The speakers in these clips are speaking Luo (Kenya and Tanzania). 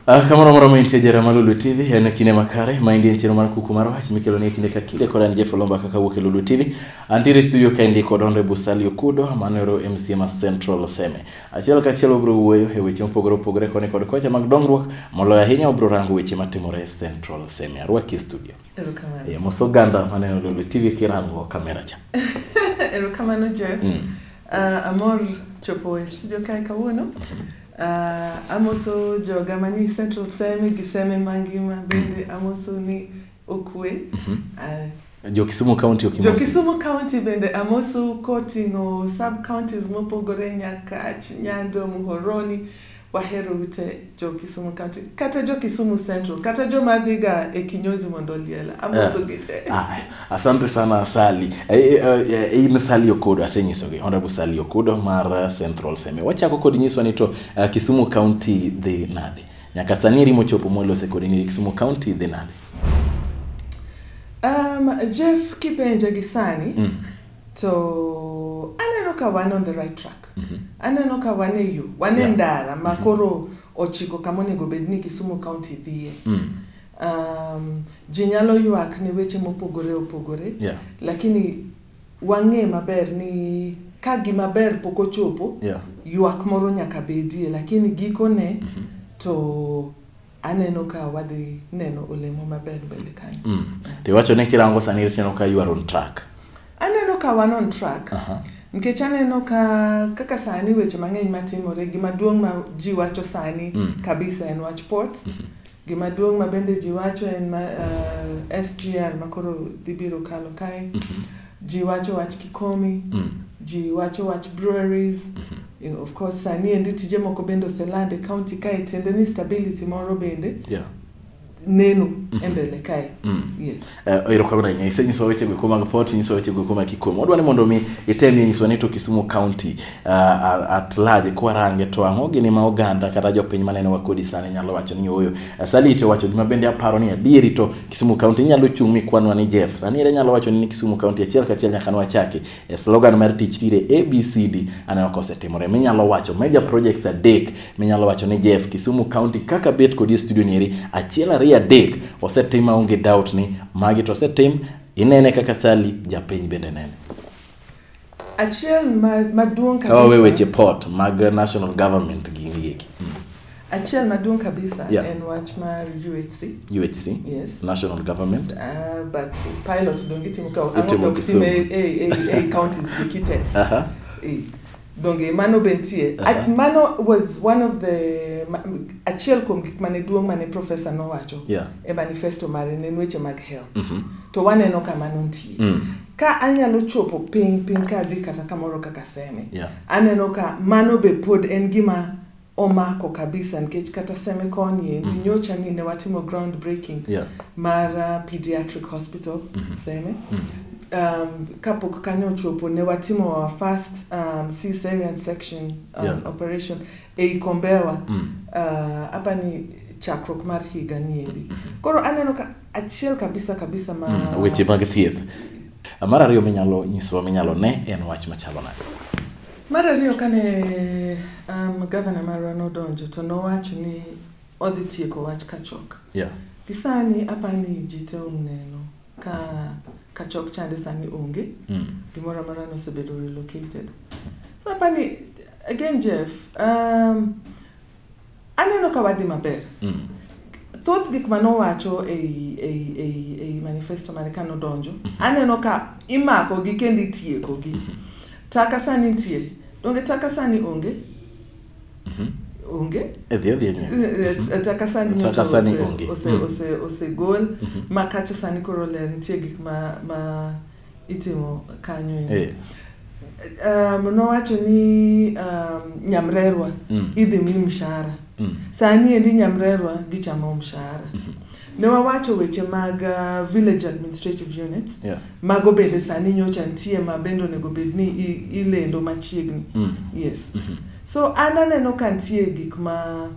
Ah, kamano moro ma intie jara mar Lulu TV en kinde makare ma indie chenro mar kuku mar wach mikelo ne kinde ka kinde kod an Jeff Olomba kaka wuok e Lulu TV. Antiere e studio ka indie kod Honorable Sally Okudo manero MCMA Central Seme. Achiel kachiel wabiro wuoyo e weche mopogore opogore koni kod kocha mag dongruok moloyo ahinya wabiro rango weche matimore e Central Semi. Arwaki e studio. Erokamano. E, mos oganda maneno Lulu TV kirango kamera cha. Erokamano Jeff. Mm. Uh, amor chopo e studio kae kawuono. Mm -hmm. uh, amoso joga mani central seme gi seme mangima bende amoso ni Okwe. Mhm. Uh, jo Kisumu County ok Jo Kisumu County bende amosu koting'o sub counties mopogore Nyakach, Nyando, Muhoroni wahero ute jo Kisumu County kata jo Kisumu Central kata jo madhiga e kinyozi mondo liela amoso eh. gite. Eh. Ah, asante sana Sali. Eh, eh, in Sali Okodo asenyisogi Honorable Sali Okodo mar Central Seme. Wachako kod nyiswa ni to uh, Kisumu County dhi nade? Nyaka sani eri mochopo mwalose kodi ni Kisumu County dhi nade? Um, Jeff kipenja gi sani mm. to aneno ka wan on the right track mm -hmm. aneno ka wan e yo wan e yeah. ndara ma mm -hmm. koro ochiko kama onego bed ni Kisumu County dhiye mm. um, ji nyalo ywak ne weche mopogore opogore yeah. lakini Wang'e maber ni ka gima ber pok ochopo, Yeah. ywak moro nyaka bedie, lakini gikone to aneno ka wadhi neno olemo maber mbele kanyo. Mm. To iwacho ni kirango sani tineno ka you are on track. Aneno ka wan on track. Aha. Nikech aneno ka kaka sani weche mang'eny matimore, gima duong' ma ji wacho sani kabisa en wach port. Gima duong' ma bende ji wacho en ma, uh, SGR ma koro dhi biro kalo kae. Mm -hmm. Ji wacho wach Kikomi. Mm. Ji wacho wach breweries. Mm -hmm of course sani endi tije moko bende oseland e county kae tiende ni stability moro bende yeah. neno mm -hmm. e mbele kae mm. yes Eh, erokamano ahinya isenyiso weche go kuoma pot inyiso weche go kuoma kikuom wadwa ni mondo mi itemie nyiswa ni to kisumu county uh, at large kwarange to ang'o gini ma oganda kata jopiny maneno wa kodi sani nyalo wacho ni ooyo uh, salite owacho gima bende aparo ni adieri to kisumu county inyalo chung' mikwanwa ni jeff sani ere nyalo wacho ni kisumu county achiel kachiel nyaka nwachaki e slogan mar tich tire abcd aneno ka osetimore minyalo wacho major projects adek minyalo wacho ni jeff kisumu county kaka bet kodi e studio nieri achiel ariyo adek osetim aonge doubt ni magi to osetim inene kaka sali japiny bende nene achiel ma- maduong' kawawe kabisa weche port mag national government gi Achiel maduong' kabisa yeah. en wach mar UHC. UHC. Yes. National government. Uh, but pilot donge itimo ka ang'o itimo e e e counties dikite. Aha. Uh -huh. E. Donge mano bentie. Uh -huh. Mano was one of the achiel kuom gik mane duong' mane professor nowacho. Yeah. E manifesto mare ne weche mag health. Mm -hmm. To waneno kama nontie. Mm. ka anyalo chopo piny piny ka adhi kata kamoro kaka seme yeah. aneno ka mano be pod en gima omako kabisa nikech kata semekoni endi mm. nyocha ni ne watimo ground breaking yeah. mar uh, pediatric hospital mm -hmm. seme mm -hmm. um, kapok kanyo ochopo ne watimo our first um, cesarian section um, yeah. operation ei kombewa mm. uh, apa ni chakruok mar higa ni endi mm -hmm. koro aneno ka achiel kabisa kabisa ma mm, weche mag thieth mar ariyo minyalo nyisowa minyalo ne en wach machalo nade Mar ariyo kane um, gavana marwa nodonjo to nowacho ni odhi tieko wach kachok. Yeah. Gisani apa ni ji te oneno ka kachok chande sani onge. Mm. Gimoro amora nosebedo relocated. So apa ni again Jeff, um, Aneno ka wadhi maber. Mm. Thoth gik ma nowacho ei, ei, ei, ei manifesto mare ka nodonjo, mm -hmm. aneno ka imako gi kendo itieko gi. Mm -hmm. Taka sani nitie. Donge taka sani onge? Mm -hmm onge edhi edhi enye taka sani taka sani onge osegol ma kacha sani koro ler nitie gik ma ma itimo kanyo e. eh. um, nowacho ni um, nyamrerwa mm. idhi mi mshahara mm. sani endi nyamrerwa gichamo mshahara mm -hmm. ne wawacho weche mag uh, village administrative units yeah. mago bende sani nyocha nitie ma bende onego bed ni ilendo machiegni mm. yes mm -hmm. so an aneno ka nitie gik ma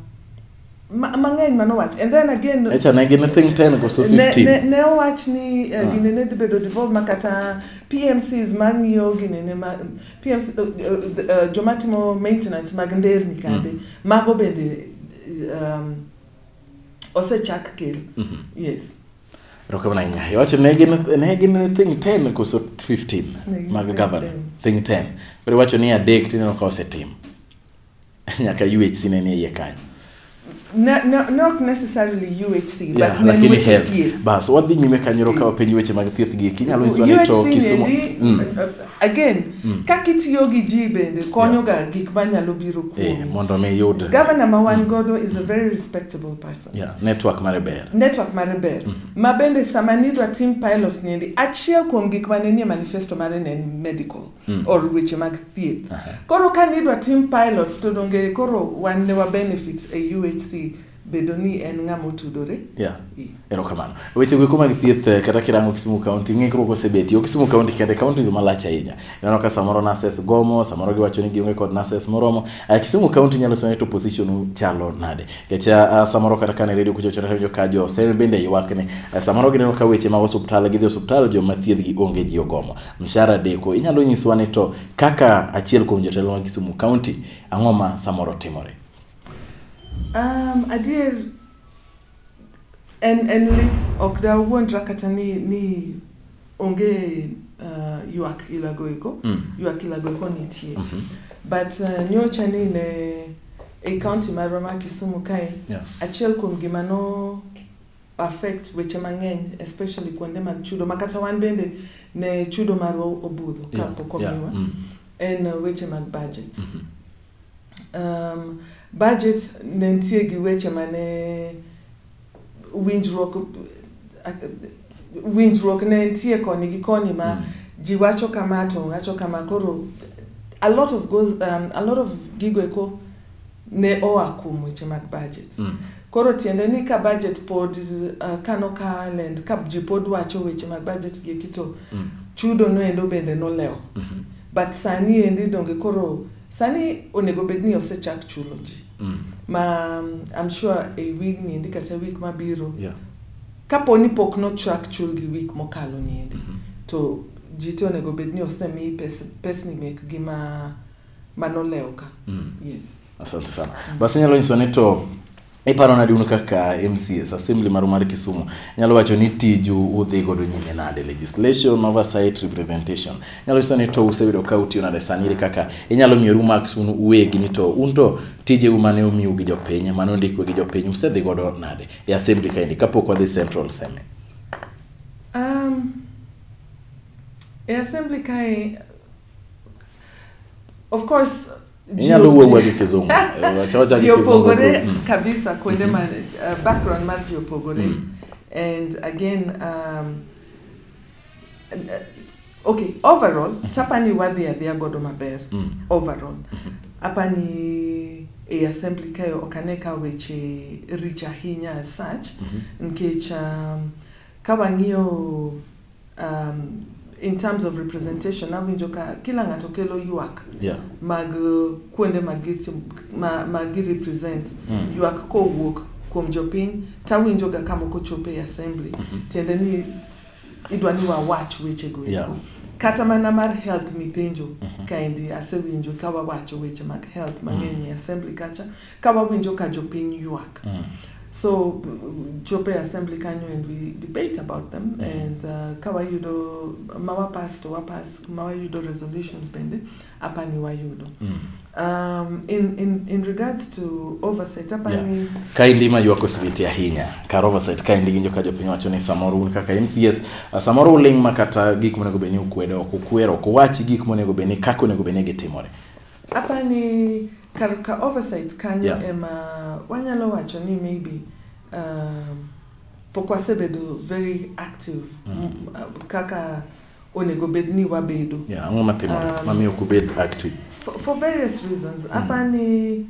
Ma- mang'eny manowach and then again Echa ne gin think 10 koso ne, ne, 15. ne owach ni uh, gine ne dhi bedo devolve ma kata pmcs mang'iyo gine ne ma, PMC, uh, uh, uh, joma timo maintenance mag nderni kande mm. mago bende um, osechak kel mm -hmm. yes Erokamano ahinya. Iwacho ne gin ne gin think 10 koso 15 Ne gin mag think governor. 10. Think 10. Koro iwacho ni adek tineno ka osetim. nyaka UHC ne nie iye kanyo Na- na- not necessarily UHC, Yeah, but ne lakini weche health thieth. bas wadhi nyime kanyo kawa penj weche mag thieth gi kinyalo nyiswa ni to UHC kisumo ni- Mm. uh, again kaka itiyo gi ji bende konyoga gik manyalo biro Eh, kuomi mondo mi yud gavana ma wan godo is a very respectable person yeah, network mare ber network mare ber ma bende sama nidwa tim pilots niendi achiel kuom gik mane nie manifesto mare ne en medical mm. or weche mag thieth uh -huh. koro ka nidwa tim pilot to donge koro wan ne wabenefit e uhc bedo ni en ng'ama otudore yeah. erokamano weche goeko mag thieth eh, kata kirango kisumu county ng'ikruok osebeti o kisumu county kende counties malach ahinya ineno ka samoro nurses gomo samoro giwacho ni gionge kod nurses moromo uh, kisumu county nyalo sone to position chalo nade kecha uh, eh, samoro kata kane redio kuchochorejo ka jo seme bende ywakne uh, samoro gineno ka weche mag osuptal gidhi osuptal joma thiedhgi onge ji ogomo Mshahara deko. Inyalo nyiswa ni to kaka achiel kuom jotelo mag Kisumu County, ang'o ma samoro timore? Um, adier en, en lit ok dawuondra kata ni, ni onge uh, ywak ilagoeko Mm. ywak ilagoeko nitie Mhm. but uh, nyocha ni ne e county marwa ma kisumu kae Yeah. achiel kuom gima no affect weche mang'eny especially kuonde mag chudo ma kata wan bende ne chudo marwa obudho Yeah, kapok yeah, omiwa mm. en uh, weche mag budget Mhm. um, budget ne nitie gi weche mane winjruok winjruok ne nitie koni gi koni ma Mm. ji wacho kama to wacho kama koro a lot of goes, um, a lot of gigo eko ne oa kuom weche mag budgets. Mm. Koro tiende ni ka budget pod uh, kano kal and ka ji pod wacho weche mag budget gi kito mm. chudo no endo bende nolewo. Mm -hmm. But sani endi donge koro sani onego bed ni osechak chulo ji. Mm. Ma um, I'm sure a week ni endi kata week mabiro. Yeah. Kapo ni pok nochak chul gi week mokalo ni endi. Mm -hmm. To ji to onego bed ni osemi pes, pesni mekgi ma mano lewo ka mm. yes asante sana basi nyalo nyiso ni to iparo nadi un kaka mcs assembly maru mar kisumu nyalo wacho ni tiju udhi godo nyime nade legislation oversight representation nyalo nyiso ni to usebedo ka utiyo nade sani iri kaka inyalo miyoru marks un uwegi ni to un to tijeu mane omiu gi jopiny mane ondikwe gi jopiny usedhi godo nade e assembly kaendi kapok wadhi central seme um, e assembly kae of course inyalo wuo wuo gi kizungu ji opogore mm. kabisa kuonde mm-hmm. ma uh, background mar ji opogore mm. and again um, uh, okay overall mm-hmm. chapani wadhi adhiya godo maber mm. overall mm-hmm. apani e assembly kayo ok ane ka weche rich ahinya as such mm -hmm. nikech um, Ka wang'iyo um, in terms of representation awinjo ka kila ng'ato kelo ywak yeah. mag uh, kuonde ma girepresent ma mm. ywak kowuok kuom jopiny tawinjoga ka moko chopo e assembly mm -hmm. tiende ni idwa ni wawach wechego eko yeah. kata mana mar health mipenjo mm -hmm. kaendi asewinjo ka wawacho weche mag health mang'eny mm. e assembly kacha ka wawinjo ka jopiny ywak mm. so chopo e assembly kanyo and we debate about them mm. and uh, ka wayudo ma wapas to wapas ma wayudo resolutions bende apa ni wayudo mm. um, in, in, in regards to oversight apa yeah. ni ka indi ma ywako sibiti ahinya kar oversight ka indi ginjo ka jopiny wacho ni samoro un kaka mcs uh, samoro uling ma kata gik monego bed ni ukwedo ok ukwer ok uwachi gik monego bed ni kaka onego bed ni gitimore apa ni kar ka oversight kanyo yeah. ema wanyalo wacho ni maybe um, pok wasebedo very active mm. Uh, kaka onego bed ni wabedo yeah, ang'o matimore um, mamiyo ok ubed active for, for various reasons mm. apa ni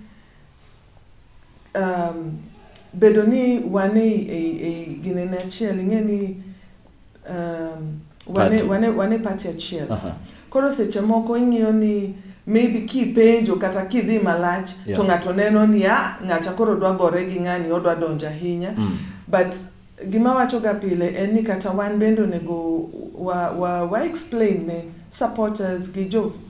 um, bedo ni wane ei, ei, ei ginene achiel ing'e ni um, wane, wane, wane party achiel uh -huh. koro seche moko ing'iyo ni maybe kipenjo kata kidhi malach yeah. to ng'ato neno ni a ah, ng'acha koro dwa gore gi ng'ani odwa donjo ahinya mm. but gima wachoga pile en ni kata wan bende onego wa, wa, wa explain ne supporters gi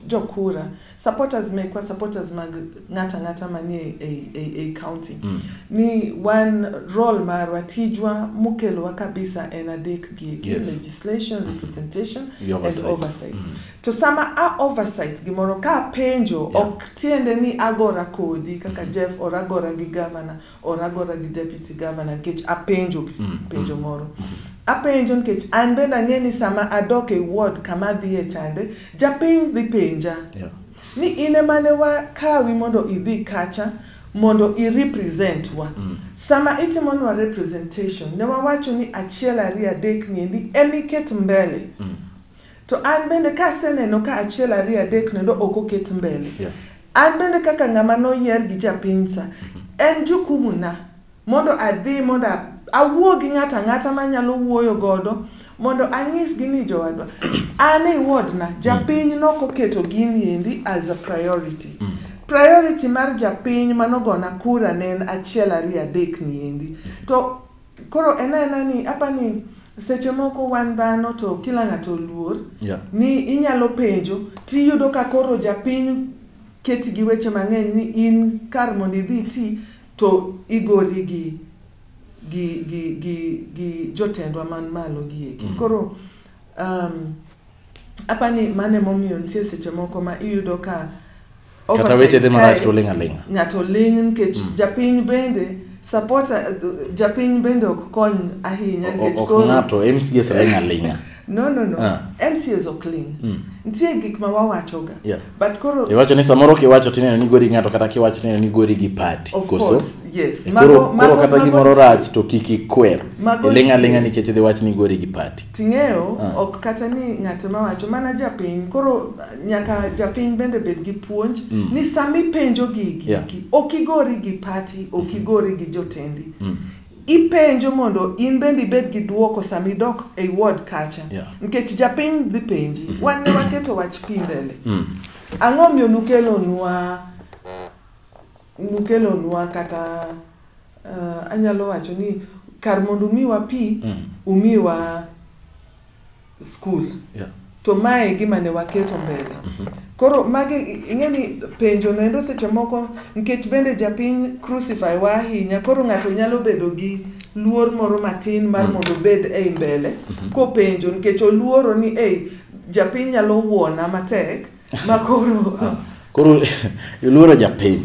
jokura jo supporters mekwa supporters mag ng'ata ng'ata manie ei, ei, ei county mm. ni wan role marwa tijwa mokelowa kabisa en adek gi eki Yes. legislation mm. representation The oversight. and oversight mm. to sama a oversight gimoro ka apenjo Yeah. yeah. ok tiende ni agora kodi kaka mm. jeff or agora gi governor oragora gi deputy governor nikech apenjo mm, mm, penjo moro mm. apenjo nikech an bende ang'e ni sama adok e ward kama adhiye chande japiny dhi penja yeah. ni in emane wakawi mondo idhi kacha mondo irepresent wa mm. sama itimonwa representation ne wawacho ni achiel ariyo adek niendi emiket mbele mm. To an bende ka aseneno ka achiel ariyo adek nendo ok oket mbele. Yeah. An bende kaka ng'ama noyier gi japiny sa, mm-hmm. en jukumu na mondo adhi mondo awuo gi ng'ato ang'ata manyalo wuoyo godo mondo anyisgi ni jowadwa an e wodna mm. japiny nok oketo gini endi as a priority mm. priority mar japiny manogona kura ne en achiel ariyo adek ni endi mm. to Koro en aena ni apa ni seche moko wan dhano to kila ng'ato oluor yeah. ni inyalo penjo tiyudo ka koro japiny keti gi weche mang'eny ni in kar mondo idhi ti to igori gi gi gi gi gi jotendwa man malo gi eki mm. koro um, Apa ni mane momiyo nitie seche moko ma iyudo ka kata weche dhi marach to oling' aling'a ng'ato ling' nikech mm. japiny bende support uh, japiny bende ok kony ahinya nikech koro ng'ato MCS ling' aling'a no no no ah. MCS ok ling' mm. nitie gik ma wawachoga yeah. but koro iwacho ni samoro kiwacho tineno ni gori ng'ato kata kiwacho tineno ni gori gi pati Of koso course, yes. Eh, Mago- koro koro mago- kata mago gimoro nitie. rach to kik ikwer Mago iling' aling'a nitie. nikech idhi wach ni gori gi pati ting'eyo Ah. ok kata ni ng'ato mawacho mana japiny koro nyaka japiny bende bed gi puonj Mm. ni sami penjo gigi Yeah. iki, ok igori gi pati ok igori gi jotendi Mm. Ipenjo mondo in bende ibed gi duoko sama idok e ward kacha. Yeah. Nikech japiny dhi penji. Mm -hmm. Wan ne waketo wach pi mbele. Mm. Ang'o miyo nukelonwa nukelonwa kata uh, anyalo wacho ni kar mondo umiwa pi mm. umiwa skul Yeah. to mae e gima ne waketo mbele koro magi ing'e ni penjo noendo seche moko nikech bende japiny crucify wa ahinya koro ng'ato nyalo bedo gi luor moro matin mar mondo obed ei mbele kopenjo nikech oluoro ni ei japiny nyalo wuona matek ma koro koro iluoro japiny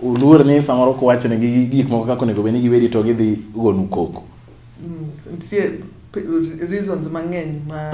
uluor ni samoro kuwachone gi gik moko kaka onego bed ni giweri to gidhi gonu koko Mm, nitie p- reasons mang'eny ma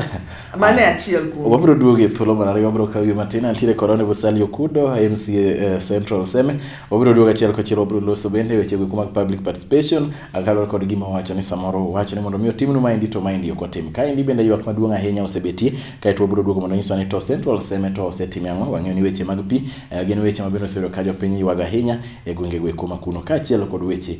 mano e achiel kuom wabiro duogo e thuolo mar ariyo wabiro kawo yo matin antiere korone vosali okudo mca eh, central seme wabiro duogo achiel kochiel wabiro loso bende weche goeko mag public participation akaluwore kod gima wacho ni samoro wacho ni mondo mi otimnu maendi to maendi ok otim kaendi bende ywak maduong' ahinya osebetie kaeto wabiro duogo mondo nyiswa ni to central seme to osetime ang'o wang'eyo ni weche mag pi eh, gin weche ma bende osebedo ka jopiny ywago ahinya e gwenge goeko ma kuno kaachiel kod weche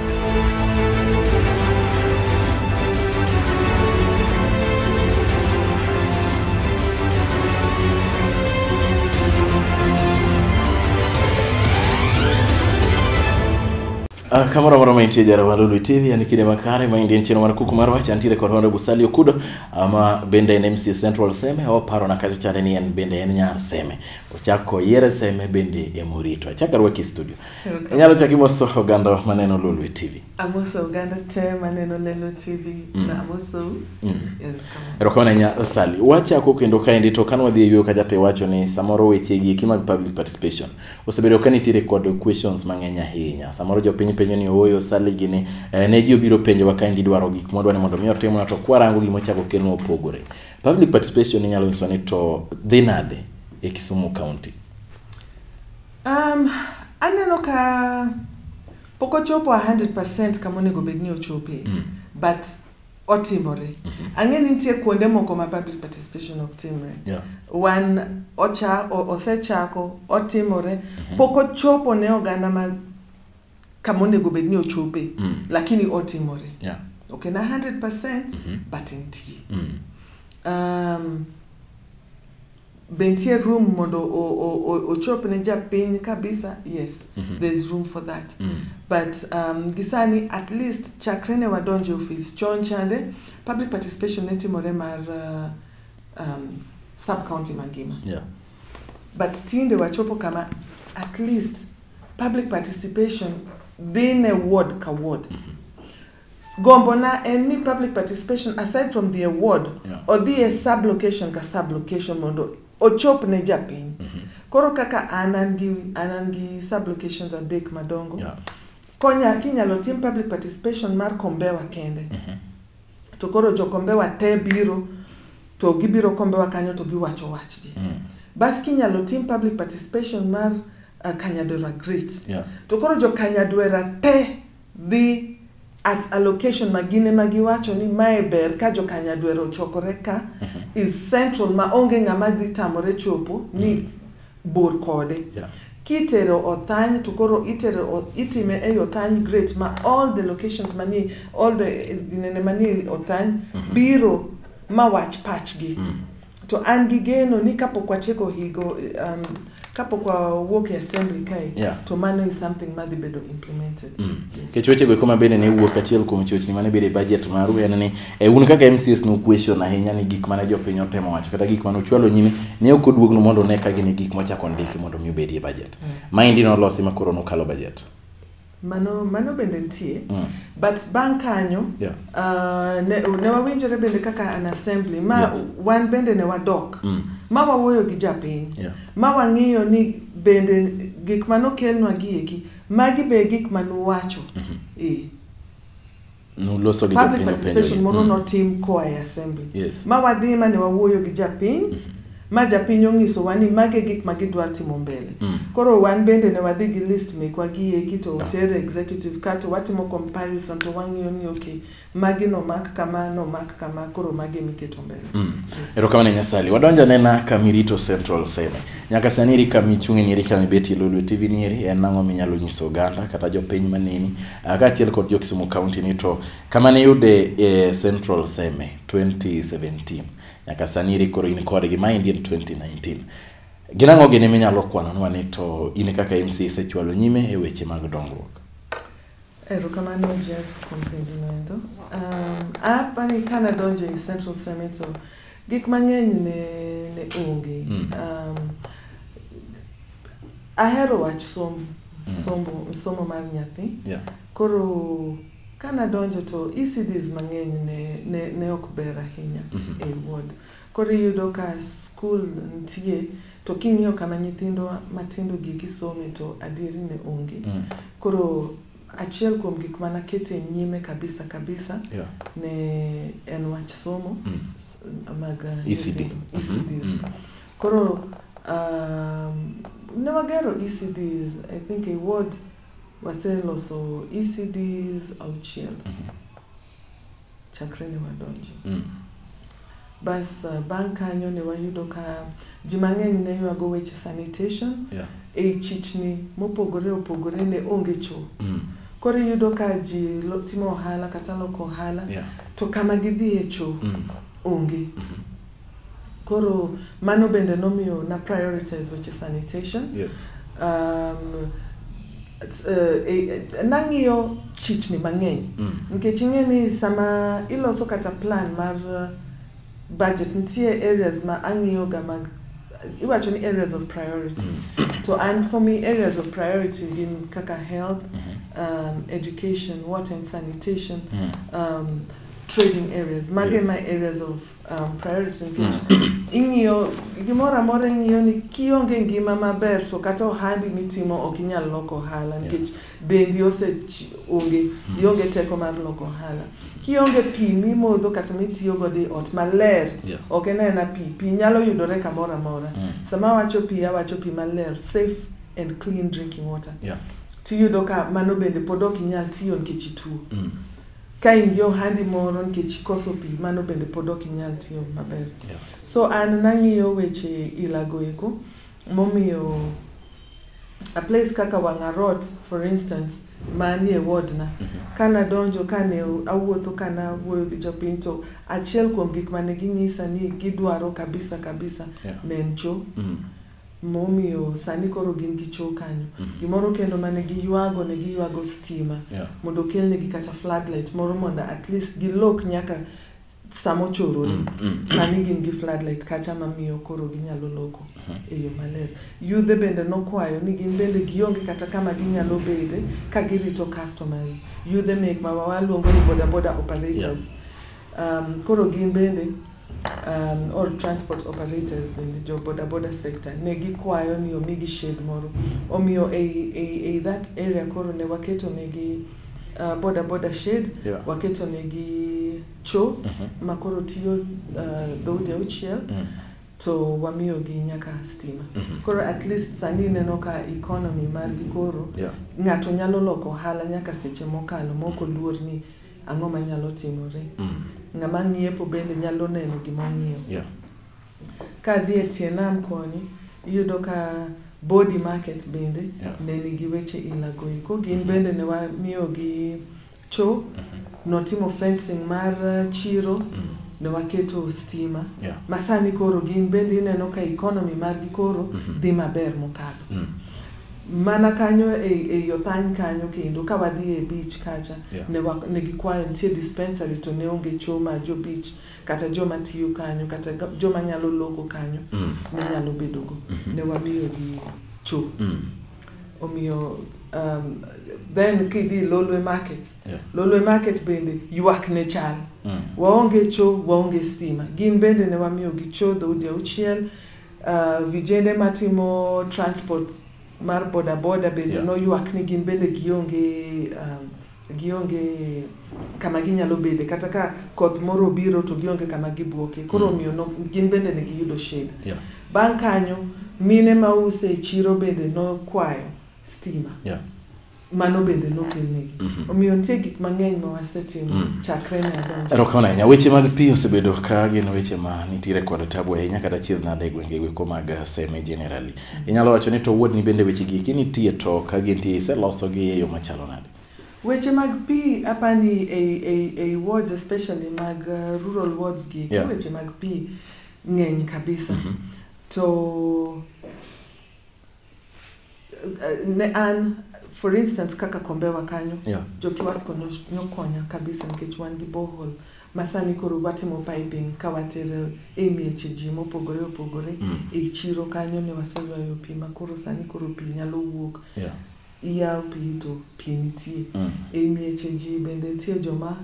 Ah, kamoro amora mantie jara mar Lulu TV yani kinde makare ma indien chino mar kuku marwa chantiere kod hondo Busalio Kudo ama bende en MC Central Seme oparo na kacha chane ni en bende en nyar Seme ochako yere Seme bende emorito achaka rwaki studio inyalo chaki moso oganda maneno lolwe tv amoso oganda te maneno lelo tv mm. na amoso mm. erokamano ahinya sali wachako kendo kaendi to kane wadhi e yueyo kacha to iwacho ni samoro wechegi eki mag public participation osebedo ka nitiere kod questions mang'eny ahinya samoro jopiny penjo ni ooyo sali gini eh, ne ji obiro penjowa kaendi idwaro gik mwadwa ni mondo mi otimna to kwarango gima ochako kelnwa opogore public participation inyalo nyiso ni to dhi nade e kisumu county Um, aneno ka pok ochopo 100% kama onego bed ni ochope mm. but otimore mm -hmm. ang'e ni nitie kuonde moko ma public participation ok timre yeah. wan ocha, o, osechako otimore mm -hmm. pok ochopo ne oganda ma kama onego bed ni ochope mm. lakini otimore yeah. ok na 100% mm -hmm. but nitie mm. um, Be nitie room mondo o- o- o- ochop ne japiny kabisa? Yes, Mhm. there is room for that. Mm. But um, gisani at least chakre ne wadonje ofis chon chande public participation ne timore mar uh, um, sub county mangima. Yeah. But tinde wachopo kama at least public participation dhi ne ward ka ward. Gombona en ni public participation aside from the award yeah. odhi e sub location ka sub location mondo ochop ne japiny mm -hmm. koro kaka an an gi an an gi sub locations adek madongo yeah. konya kinyalo tim public participation mar kombewa kende mm -hmm. to koro jokombewa te biro to gibiro kombewa kanyo to giwacho wachgi mm. bas kinyalo tim public participation mar uh, kanyadwera great yeah. to koro jo kanyadwera te dhi at a location ma gin ema giwacho ni mae ber ka jokanyadwero ochokore ka is central ma onge ng'ama dhi tamore chopo ni bor kode Yeah. kitero othany to koro itero o- itime ei othany great ma all the locations mani all the nene mani othany biro ma wach pachgi to an gi geno ni kapok watieko higo um, kapok wawuok e assembly kae yeah. to mano is something madhi bedo implemented mm. yes. kech wechego eko mabende ne wuok achiel kuom chochni mane bedo e budget maru en ni e un kaka mcs no question ahinya ni gik mane jopiny otemo wacho kata gik mane ochwalo nyime ne ok oduogno mondo ne ka gin gik mochako ndiki mondo mi obedi e budget mm. maendi nolosi ma koro nokalo budget Mano, mano bende nitie. Mm. But bang' kanyo, yeah. uh, ne, ne wawinjore bende kaka an assembly, ma yes. wan bende ne wadok. Mm. Ma wawuoyo gi japiny. Yeah. Ma wang'iyo ni bende gik manokelnwa gi eki, magi be gik manuwacho. Mm -hmm. e. Nuloso gi public jopiny openjo participation gi. moro Mm. notim koa e assembly Yes. ma wadhi ma ne wawuoyo gi japiny ma japiny onyisowa ni mage gik ma gidwa timo mbele Mm. koro wan bende ne wadhi gi list mekwa gi eki to oter e executive ka to watimo comparison to wang'iyo ni ok magi nomak kama nomak kama koro mage miketo mbele Mm. erokamano nyasali wadonjo anena kamirito central seme nyaka sani eri kamichung'e ni eri kamibeti lolwe tv ni eri en ang'o minyalo nyiso oganda kata jopiny maneni Ah, kaachiel kod jo Kisumu County ni to kama ne yude e Central Seme 2017 nyaka sani iri koro in kodgi ma endi en 2019 gin ang'o gini minyalo kwanonwa ni to in kaka MC isechwalo nyime e weche mag dongruok Erokamano Jeff kuom penjino endo. Um, apani ka nadonjo e Central Seme to gik mang'eny ne, ne onge. Mm. Um, Ahero wach somo, mm. somo, somo mar nyathi. Yeah. Koro ka nadonjo to ECDs mang'eny ne, ne, ne ok ber ahinya mm -hmm. e ward. Koro iyudo ka skul nitie to king'iyo kama nyithindo matindo gi kisome to adieri ne onge. Mm. Koro achiel kuom gik mana kete nyime kabisa kabisa yeah. ne en wach somo mm. mag uh, ECD. ECDs. Mm -hmm. Mm. Koro um, ne wagero ECDs, I think a ward waseloso ECDs auchiel mm -hmm. chakre ne wadonji. Mm. Bas uh, bang' kanyo ne wayudo ka ji mang'eny ne ywago weche sanitation yeah. e i chichni mopogore opogore ne onge cho. Mm. Koro iyudo ka ji timo ohala kata loko ohala yeah. to kama gidhi e cho mm. onge. Mm -hmm. Koro mano bende nomiyo na prioritize weche sanitation. Yes. Um, uh, eh, nang'iyo chichni mang'eny mm. nikech ing'e ni sama iloso kata plan mar uh, budget nitie areas ma ang'iyoga mag iwacho ni areas of priority mm. to and for me areas of priority gin kaka health mm -hmm. um, education water and sanitation mm. um, trading areas mage yes. my areas of Um, priorities nikech mm. ing'iyo gimoro amora ing'iyo ni kionge ngima maber to kata ohandi mitimo ok inyal loko ohala nikech dendi ose onge mm. ionge teko mar loko ohala kionge pi mimodho kata mitiyo godo e ot maler ok en aena pi pi nyalo yudore kamoro amora mm. sama awacho pi awacho pi maler safe and clean drinking water tiyudo ka mano bende pod ok inyal tiyo nikech ituo Ka in gi ohandi moro nikech ikoso pi, mano bende pod ok inyal tiyo maber. Yeah. So an nang'iyo weche ilago eko momiyo a place kaka Wang'arot for instance manie wardna mm -hmm. kana donjo kane awuotho kana awuoyo gi jopiny to achiel kuom gik mane ginyisa ni gidwaro kabisa kabisa yeah. ne en choo mm -hmm. momiyo sani koro gin gi choo kanyo mm-hmm. gimoro kendo mane giywago ne giywago stima yeah. mondo okelnegi kata floodlight moro mondo at least gilok nyaka samochorore mm, mm. sani gin gi floodlight kacha mamiyo koro ginyalo loko mm-hmm. e yo maler yudhe bende nokwayo ni gin bende gionge kata kama ginyalo bede ka girito customers yudhe mek mawawaluongo ni bodaboda operators yeah. um, koro gin bende um, all transport operators bende jo boda boda sector ne gikwayo ni omigi shade moro omiyo ei, ei, ei that area koro ne waketo negi uh, boda boda shade Yeah. waketo negi cho Mhm. ma koro tiyo uh, dhoudi auchiel Mm. to wamiyogi nyaka stima Mhm. koro at least sani ineno ka economy margi koro Yeah. ng'ato nyalo loko ohala nyaka seche mokalo mok oluor ni ang'o ma nyalo timore mm. ng'ama ng'iepo bende nyalo neno gima ong'iewo yeah. ka dhi e tie nam koni iyudo ka body market bende yeah. ne nigi weche ilagoe ko gin mm-hmm. bende ne wamiyogi cho mm -hmm. notimo fencing mar uh, chiro mm -hmm ne waketo stima yeah. masani koro gin bende ineno ka economy margi koro mm -hmm. dhi maber mokadho mm -hmm. Mana kanyo e, e yo thany kanyo kendo ka wadhi e beach kacha yeah. ne, wak, ne gikwayo nitie dispensary to ne onge choma jo beach kata joma tiyo kanyo kata joma nyalo loko kanyo mm. ne nyalo bedogo mm -hmm. ne wamiyo gi cho mm. omiyo um, then kidhi lolwe market yeah. lolwe market bende ywak ne chal mm. waonge cho waonge stima gin bende ne wamiyo gi cho dhoudi auchiel Uh, vijende matimo transport mar bodaboda bende yeah. noywak ni gin bende gionge um, gionge kama ginyalo bede kata ka koth moro obiro to gionge kama gibuoke koro mm. omiyo mm. no, gin bende ne giyudo shed yeah. bang' kanyo mine ma use e chiro bende nokwayo stima yeah. mano bende nokelnegi mhm. omiyo nitie gik mang'eny ma wasetimo mm. chakre ne adonjo erokamano ahinya weche mag pi osebedo ka gin weche ma nitiere kod tabu ahinya kata chier nade e gwenge gweko mag eh, seme generally mm. inyalo wacho ni to wuodni bende weche giki nitie to ka gintie iselosogi e yo machalo nade weche mag pi apani ei, ei, ei wards especially mag uh, rural wards gi yeah. weche mag pi ng'eny kabisa mm -hmm. to Eh, ne an for instance kaka kombewa kanyo Yeah. jokiwasko no- nokonya kabisa nikech wan gi bohol masani koro watimo piping ka watero e mieche ji mopogore opogore Mm. e chiro kanyo ne waseywayo pi ma koro sani koro pi nyalo wuok Yeah. iyawo pi to pi nitie Mm. e mieche ji bende nitie joma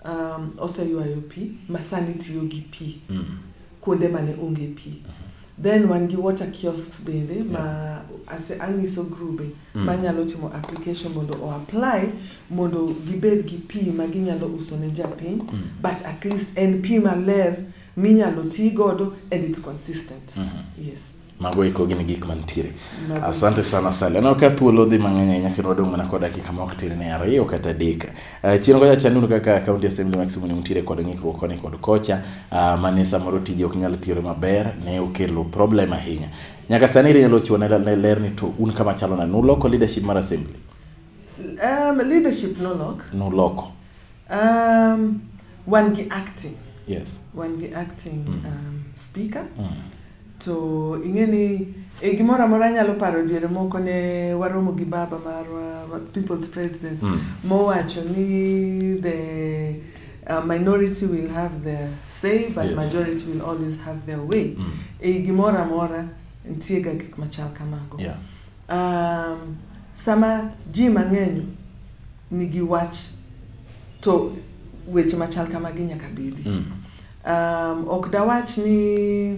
um, oseywayo pi masani tiyo gi pi Mm. kuonde mane onge pi then wan gi water kiosks bende ma ase anyiso grube mm. manyalo timo application mondo o apply mondo gibed gi pi ma ginyalo uso ne japiny mm. but at least en pi maler minyalo ti godo and it's consistent mm -hmm. yes mago eko gin gik mantiere asante sana sale aneno ka thuolo dhi mang'eny ahinya kendo wadong' mana kod dakika ma ok tir ne ariyo kata adek Eh, chien kocha chan nuru kaka county assembly ma kisumu ne nitiere kod ng'ikruok koni kod kocha ah, mane samoro tije ok nyal tiyore maber ne okelo problem ahinya nyaka sani rinyalo chiwo ne ne ler ni to un kama chalo na nuloko leadership mar assembly Um, leadership nolok. nuloko Um, wan gi acting. yes Wan gi acting um, speaker. mm. To ing'e ni e gimoro amora anyalo paro diere moko ne waromo gi baba marwa people's president mm. mowacho ni the uh, minority will have their say but yes. majority will always have their way mm. e gimoro amora nitie ga gik machal kamago yeah. um, sama ji mang'eny nigi wach to weche machal kamagi nyaka bedi mm. Um, ok dawach ni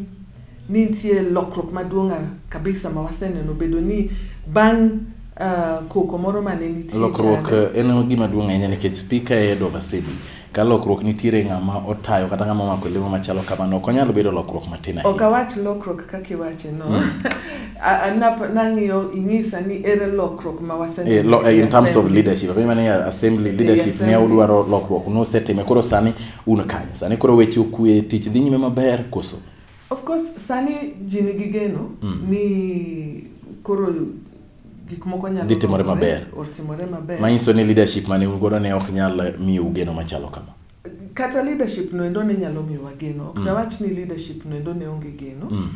ni nitie lokruok maduong' kabisa ma waseneno bedo ni bang' uh, koko moro mane nitie lokruok eh, en gima duong' ahinya nikech spika e Edo Masidi ka lokruok nitiere ng'ama otayo kata ng'ama omako lemo machalo kamano ok onyal bedo lokruok matin ahinya ok awach lokruok kaka iwache no mm. nang'iyo inyisa ni ere lokruok ma waseneno eh, eh, in terms of leadership apenjo mane assembly leadership ne udwaro lokruok nosetime koro sani Un kanye sani koro weche okwe tich dhi nyime maber koso? Of course sani ji nigi geno mm. ni koro gik moko nyalo dhi timore maber. Otimore maber. Manyiso ni leadership mane un godo ne ok nyal miyo ugeno machalo kama. Kata leadership no endo ne nyalo miyo wageno. Ok mm. dawach ni leadership no endo ne onge geno. Mm.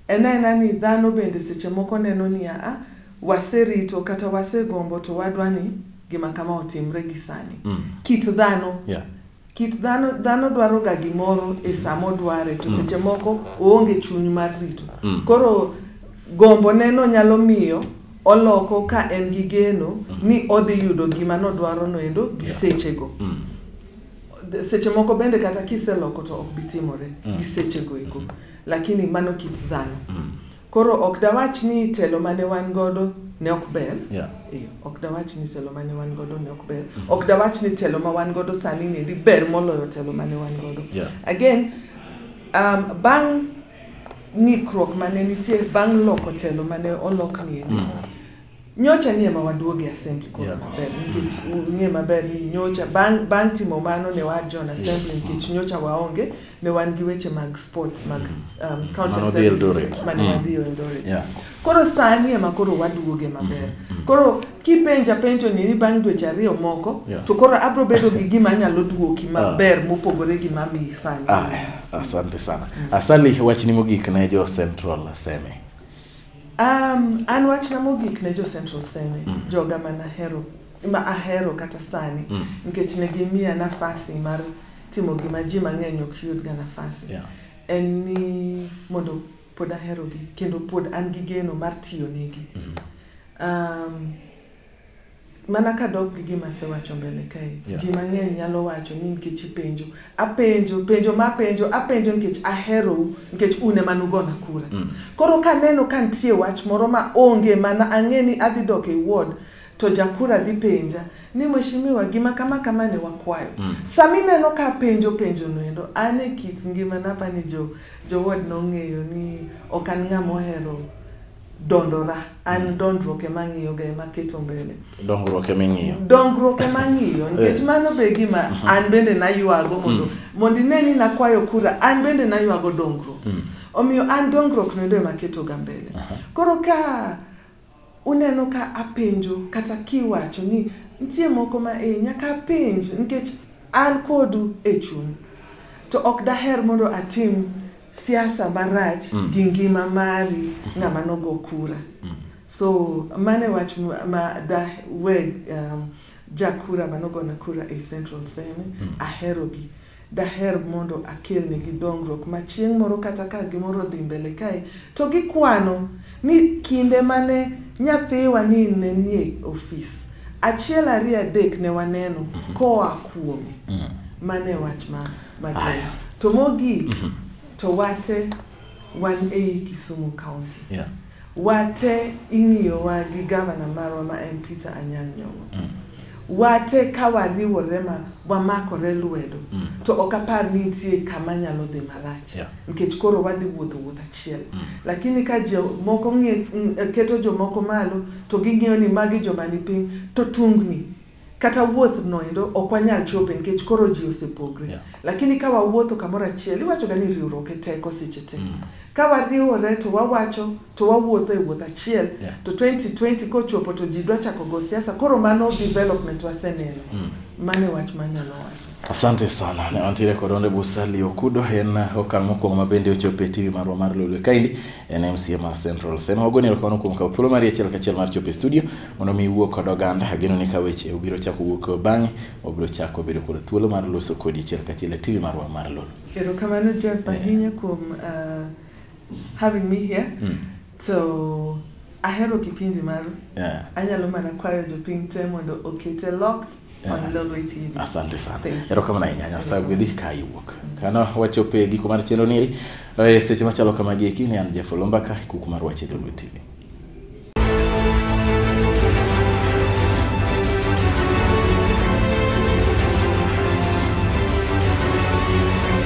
Ena ena ni dhano bende seche moko neno ni a ah, waserito kata wasegombo to wadwa ni gima kama otimre gi sani. Mm. Kit dhano. Yeah. Kit dhano dhano dwaro ga gimoro e sama odware to seche moko oonge chuny mar rito. Mm. Koro gombo neno nyalo miyo oloko ka en gi geno ni odhi yudo gima nodwaro no endo gi sechego. Mm. D- Seche moko bende kata kiseloko to ok bitimore gi sechego eko. Lakini mano kit dhano. Mm. Koro ok dawach ni telo mane wan godo ne ok ber. Yeah. Eh, ok dawach ni telo mane wan godo ne ok ber. Ok dawach ni telo ma wan godo sani ni di ber moloyo telo mane wan godo. Yeah. Again, um, bang' ng'ikruok mane nitie bang' loko telo mane olok ni endi. Mm. nyocha ni ema waduogo e assembly koro Yeah. maber nikech ung'e maber ni nyocha bang' bang' timo mano ne wajon assembly nikech nyocha waonge ne wan gi weche mag sports mag um, county Mano dhi assembly Eldoret. district mane wadhi Eldoret Yeah. koro sani ema koro waduoge maber koro kipenja penjo ni ni bang' dweche ariyo moko Yeah. to koro abro bedo gi gima anyalo duoki maber mopogore gi mamiyi sani Aya, asante sana asali wachni mogik ne jo central seme Um, an wachna mogik ne jo Central Seme, mm. joga ma nahero ma ahero kata sani mm. nikech ne gimiya nafasi mar timo gima ji mang'eny ok yudga nafasi yeah. en ni mondo pod aherogi kendo pod an gi geno mar tiyo negi mm. um, mana kadok gi gima asewacho mbele kae yeah. ji mang'eny nyalo wacho ni nikech ipenjo apenjo penjo ma apenjo apenjo nikech aherou nikech une ema nugona kura mm. koro kaneno ka nitie wach moro ma onge mana ang'e ni adhi dok e ward to jakura dhi penja ni mweshimiwa gima kama kama ne wakwayo mm. sami neno ka penjo penjo noendo an e kit ngima napa ni jo, jo ward nong'eyo ni ok an ng'ama ohero dondora an mm. dondruok ema ang'iyoga ema aketo mbele dongruok ema ing'iyo dongruok ema ang'iyo nikech eh. mano be gima mm-hmm. an bende naywago mondo mm. mondo ine ni nakwayo kura an bende naywago dongruok mm. omiyo an dongruok noendo ema aketoga mbele koro ka uneno ka apenjo kata kiwacho ni nitie moko ma e nyaka apenj nikech an kodu e chuny to ok daher mondo atim siasa marach mm. gi ngima mari mm-hmm. ng'ama nogo kura mm. so mane wach ma da we um, jakura manogona kura e central seme mm. aherogi daher mondo akelnegi dongruok ma chieng' moro kata ka gimoro dhi mbele kae to gikwano ni kinde mane nyathiwa ni ne nie ofis achiel ariyo adek ne waneno mm-hmm. koa kuome mm. mane wach ma Maduong'. To mogik, mm -hmm. to wate wan ei Kisumu County. Yeah. Wate ing'iyowa gi gavana marwa ma en Peter Anyang' Nyong'o. Mm. Wate ka wariwore ma wamakore lwedo mm. to ok apar ni nitie kama nyalo dhi marach yeah. nikech koro wadhi wuotho wuoth achiel mm. lakini ka jomoko keto jomoko malo to ging'iyo ni magi joma ni piny to tungni kata wuoth noendo ok wanyal chope nikech koro ji osepogre yeah. lakini ka wawuotho kamoro achiel iwachoga ni riwruok e teko seche te mm. ka wariwore to wawacho to wawuotho e wuoth achiel yeah. to 2020 kochopo to ji dwa chako go siasa koro mano development waseneno mm. mane wach manyalo wacho Asante sana. Ne wantiere kod Onde Busali Okudo en okang' mokwongo ma bende ochopo e TV marwa mar Lolwe Kaindi en MCA mar Central. Sen wagoni erokamano kuom kawo thuolo mari achiel kachiel mar chopo e studio mondo mi iwuo kod oganda. Ageno ni ka weche obiro chako wuok bang'e wabiro chako bedo kod thuolo mar loso kodi achiel kachiel e TV marwa mar Lolwe. Erokamano Jeff ahinya kuom uh, having me here. Mm. So ahero kipindi maru. Yeah. Anyalo mana kwayo jopiny te mondo okete locks yeah. on Lolwe TV. Asante sana. Erokamano ahinya Nyasaye gwedhi ka iwuok. Kana wachopo e giko mar chenro niri. Eh, seche machalo kamagi eki ne an Jeff Olomba ka kuku mar wache Lolwe TV.